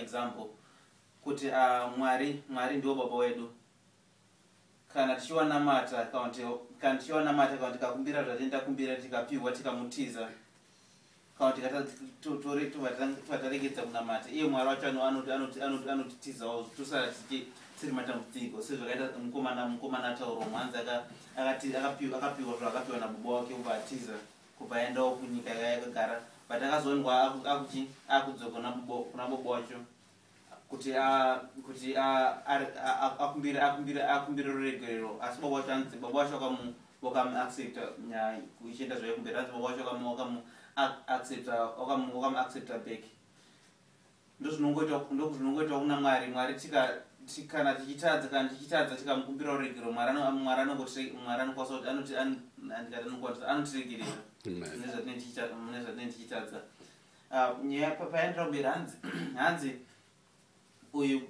example kuti uh, mwari mwari ndiwo baba wedu kana tichiwanamata kana tichiwanamata kana tikakumbira zvatini takumbira tikapiwa tikamutiza kana tikataregedza kunamata iye mwari wacho anotitizawo tosara tichi tiri matambudziko sezvakaita mukomana mukomana ataurwa mwanzi akapiwa zvaakapiwa nabubo wake ubatiza kubva aendawo kunyika yakagara but akazoonwa akuti akudzoka kuna bobo wacho kuti kuti akumbire akumbire akumbire ruregerero asi bobo wacho anzi bobo wacho akamu wakamu accepta nyaya ichienda zvayo kumberi anzi bobo wacho wakamu wakamu accepta wakamu wakamu accepta back ndozvinongoita ndozvinongoita kuna mwari mwari tika kana tichitadza kana tichitadza tikamukumbira ruregero mwari anokwanisa kuti anoti andikati anokwanisa anotiregerera nezvatinenge tichitadza ah, nyaya payaendera kumberi hanzi hanzi uyu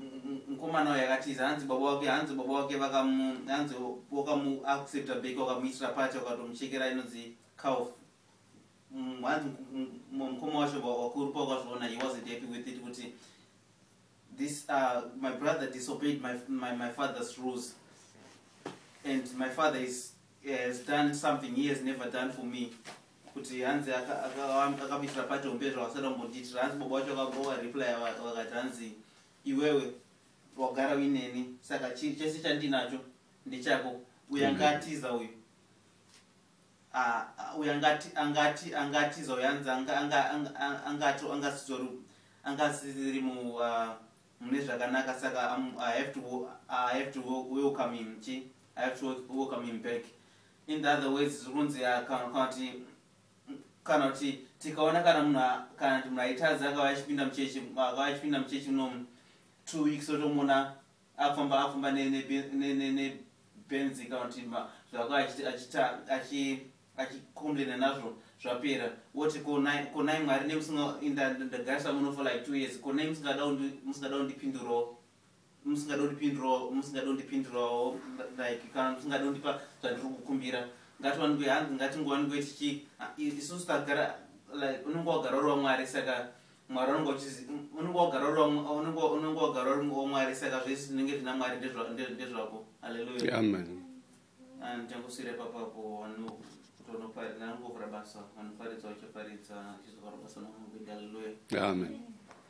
mukomana uyu akatiza hanzi baba wake hanzi baba wake vakamu hanzi wakamu accepta bake wakamuitira pati wakatomuchekera inonzi cow mm, hanzi mukoma wacho wakuru pawakazviona he wasn't happy with it kuti this uh, my brother disobeyed my, my, my father's rules and my father is, has done something he has never done for me kuti hanzi akamitira pati hombe zvawasada kumbondiitira hanzi baba wacho akagowa reply vakati hanzi iwewe wagara uineni saka chese chandinacho ndechako uyo anga atiza uyu uyo angati angati angatiza uyo anzi angato angasitori angasiri mu mune zvakanaka saka i have to i have to welcome him chi i have to welcome him back in the other ways zviri kunzi kana kuti kana kuti tikaona kana munhu kana kuti munhu aitadza akava achipinda muchechi akava achipinda muchechi munomu two weeks otomona Afamba afamba ne ne ne ne ne Benz kana kuti zvako achita achita achi achikomplaina nazvo zvapera woti konai konai mwari nemusingainda ndagarisa muno for like two years konai musingada musingada kundipindurawo musingada kundipindurawo musingada kundipindurawo like kana musingada kundipa zvandiri kukumbira ngatiwanikwe hanzi ngatingowanikwe tichi isusu tagara like unenge wagara uri wamwari saka mwari unenge uchizi unenge wagara uri wa- unenge wa- unenge wagara uri wamwari saka zvese zvinenge zvina mwari ndezva- nde- ndezvako haleluya amen ndichangoswira ipapapo vanhu kutonoparidza nangovhura basa vanoparidza vachaparidza achizovhara basa namukuita haleluya amen